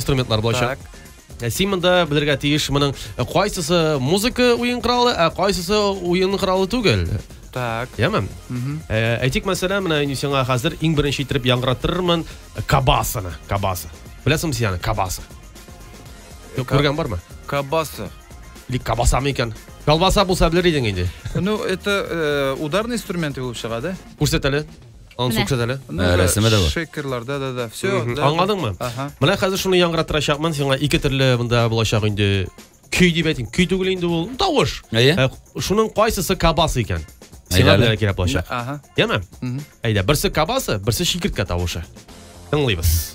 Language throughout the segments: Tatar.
инструментлар булачак. Так. Ә Син монда белергә тиеш моның э, кайсысы музыка уен коралы, ә кайсысы уен коралы түгел. Так. Яме? Мгм. Ә, Әйтик, мәсәлән, менә мин сиңа хәзер иң беренче итеп яңгыратырмын кабасаны, кабаса. Беләсеңме син аны, кабаса? Юк, Ка- Күргән бармы? Кабаса. Или кабасамы икән? Колбаса булса белер идең инде. Ну, это э, ударные инструменты булып чыга, да? Күрсәт әле. Аның Менә. сукчы әле. Ә, рәсеме дә бар. Шекерларда да да. Все. Мгм. Аңладыңмы? Ага. Менә хәзер шуны яңгыратырачакмын сиңа ике төрле монда булачак инде. Көй дип әйтим. Көй түгел инде ул. Тавыш. Әйе. Ә, Шуның кайсысы кабас икән? Сиңа Әйдәле. белән кирәк булачак. Ага. Яме? Мгм. Әйдә, берсе кабасы, берсе чикерткә тавышы. Тыңлыйбыз.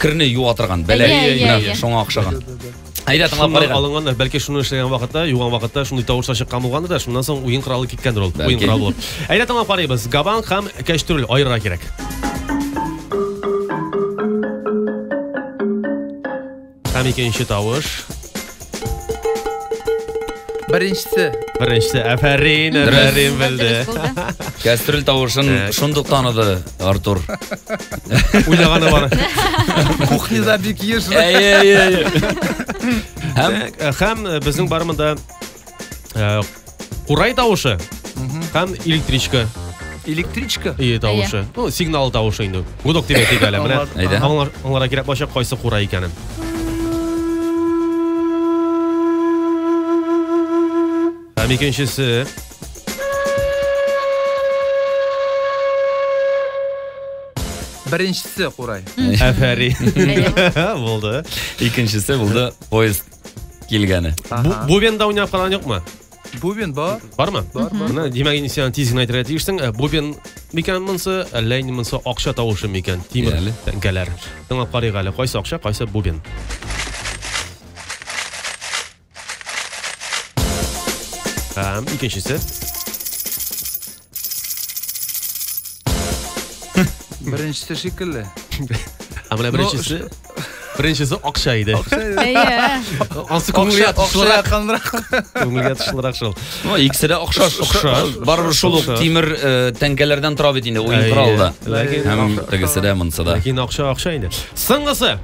керне юа торган бәләк Иә, иә, менә иә. шуңа охшаган әйдә тыңлап Шуннан карыйк алынганнар. Бәлки шуны эшләгән вакытта, юган вакытта шундый тавышлар чыккан булгандыр да, шуннан соң уен коралы киткәндер ул. Бәлки. Уен коралы булып. Әйдә тыңлап карыйбыз. Габан һәм кәчтүрел аерырга кирәк. Һәм икенче тавыш. Беренчесе. Беренчесе. Афәрин, афәрин белде. Кәстрүл тавышын шундук таныды Артур. Уйлаганы бар. Кухняда бик еш. Әйе, әйе. Һәм һәм безнең барымында Курай тавышы һәм электричка Электричка? Ие тавышы. Ну, сигнал тавышы инде. Гудок дип әйтик әле. Менә аңларга кирәк булачак кайсы курай икәнен. Һәм икенчесе Беренчесе курай. Әфәрин. Булды. Икенчесе булды поиск. килгәне. Бу- Бубенда уйнап караган юкмы? Бубен бар. Бармы? Бар, бар. Менә димәк инде сиңа тиз генә әйтергә тиешсең. Ә, Бубен микән монысы, әллә инде монысы акча тавышы микән? Тимер Әле. тәңкәләр. Тыңлап карыйк әле, кайсы акча, кайсы бубен. Һәм икенчесе. Беренчесе шикелле. Ә менә беренчесе Беренчесе акча иде. Әйе. Ансы күңелгә тышлырак. Күңелгә тышлырак шул. Ну, икесе дә акча, акча. Барыбер шул ук тимер э, тәңкәләрдән тора бит инде уен коралы да. Һәм тегесе дә монсы да. Ләкин акча акча инде. Соңгысы.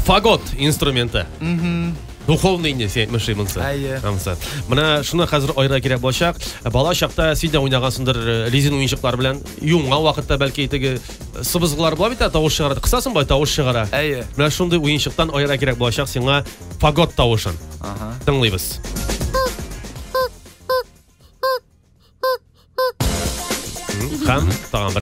Фагот инструменты. Мм. Духовный инде син әйтмешли монсы. Әйе. Ансы. Менә шуны хәзер айра кирәк булачак. Бала чакта син дә уйнагансыңдыр э, резин уенчыклар белән. Юңга вакытта бәлки теге э, сыбызгылар була бит, ә тавыш чыгара. Кысасың бай тавыш чыгара. Әйе. Менә шундый уенчыктан айра кирәк булачак сиңа фагот тавышын. Ага. Тыңлыйбыз. М, Һәм тагын бер